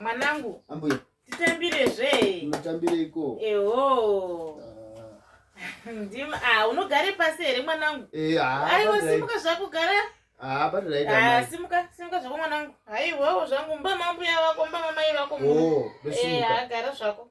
mwanangu ambuya titambire zve mutambire iko eho ah. ndim ah unogare pasi here mwanangu eh ah aiwa simuka zvako gara ah but right ah simuka simuka zvako mwanangu haiwawo zvangu mba mambuya vako mba mamai vako oh, eh ah gara zvako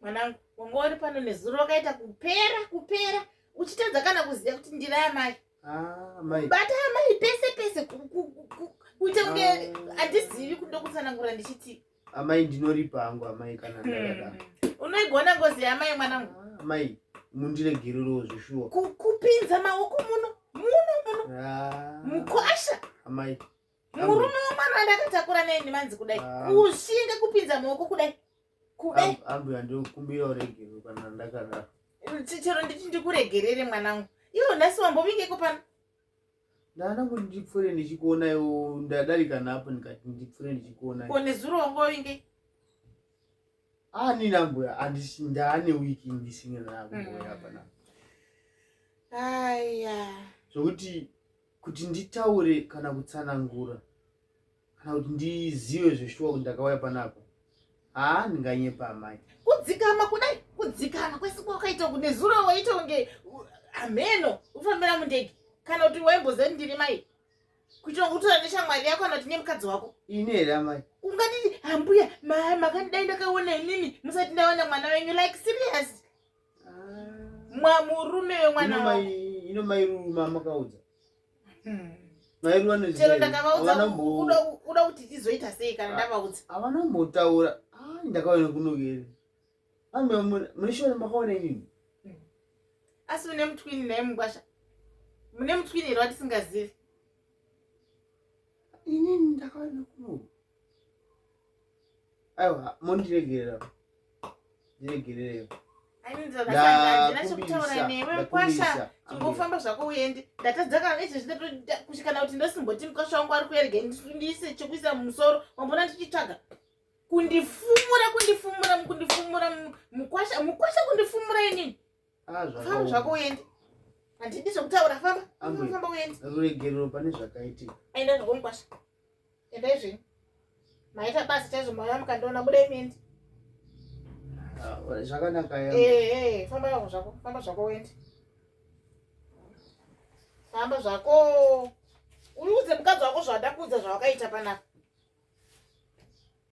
mwanangu wanga uri pano nezuro wakaita kupera kupera uchitadza kana kuziva kuti ndiri amai ah, bata amai pese pese kuita kunge ah. handizivi kundokutsanangura ndichiti amai ndinoripa hangu amai kana ndakada mm. unoigona ngozi yaamai mwanangu ah, amai mundiregererewo zveshuwa kupinza maoko muno muno muno mukwasha amai murume wemwana wandakatakura naye ndimanzi kudai ah. kushinga kupinza maoko kudai kudai ambuya ndikumbira uregerwe kana ndakadaro chero nditi ndikuregerere mwanangu iwo nhasi wambovingeko pano ndada kuti ndipfure ndichikuona iwo ndadarika napo ndikati ndipfure ndichikuona ko nezuro wangovinge anini ah, ambuya andisi ndaane wiki ndisingina ambuya mm. panapa aya zvokuti kuti nditaure kana kutsanangura kana kuti ndizive zveshuwa kuti ndakauya panapa haa ndinganyepa amai kudzikama kudai kudzikama kwese kwakaita kuti nezuro waita kunge hameno ufambira mundege kana kuti waimboziva kuti ndiri mai kuitira kuti utora neshamwari yako kana kuti nemukadzi wako ini here amai ungatiti hambuya makandidai ndakaona inini musati ndaona mwana wenyu like serious mwamurume wemwana wangu ino mai ruru mamakaudza hmm. mai ruru vanozi chero ndakavaudza uda kuti tizoita sei kana ndavaudza havana kumbotaura ah, ndakaona kunogere ah, mune shona makaona inini hmm. asi une mutwini naye mugwasha mune mutwini here watisingazivi inini ndakaona kunoge aiwa mondiregerera ndiregerere ingofamba zvako uende ndatadzaka ichi zvinotokushikana kuti ndosimboti mukasha wangu ari kuerege ndiise chekuisa mumusoro wambona ndichitsvaga kundifumura kundifumura kundifumura mukwasha mukwasha kundifumura inini Ah, famba zvako uende handidi zvekutaura famba famba uende ruregerero pane zvakaitika aenda zvakomukwasha enda izveni maita basa chaizvo mauya mukandiona buda imindi ah, zvakanaka ya eh, eh, famba yavo zvako famba zvako uende famba zvako uiudze mukadzi wako zvawada kuudza zvawakaita panapa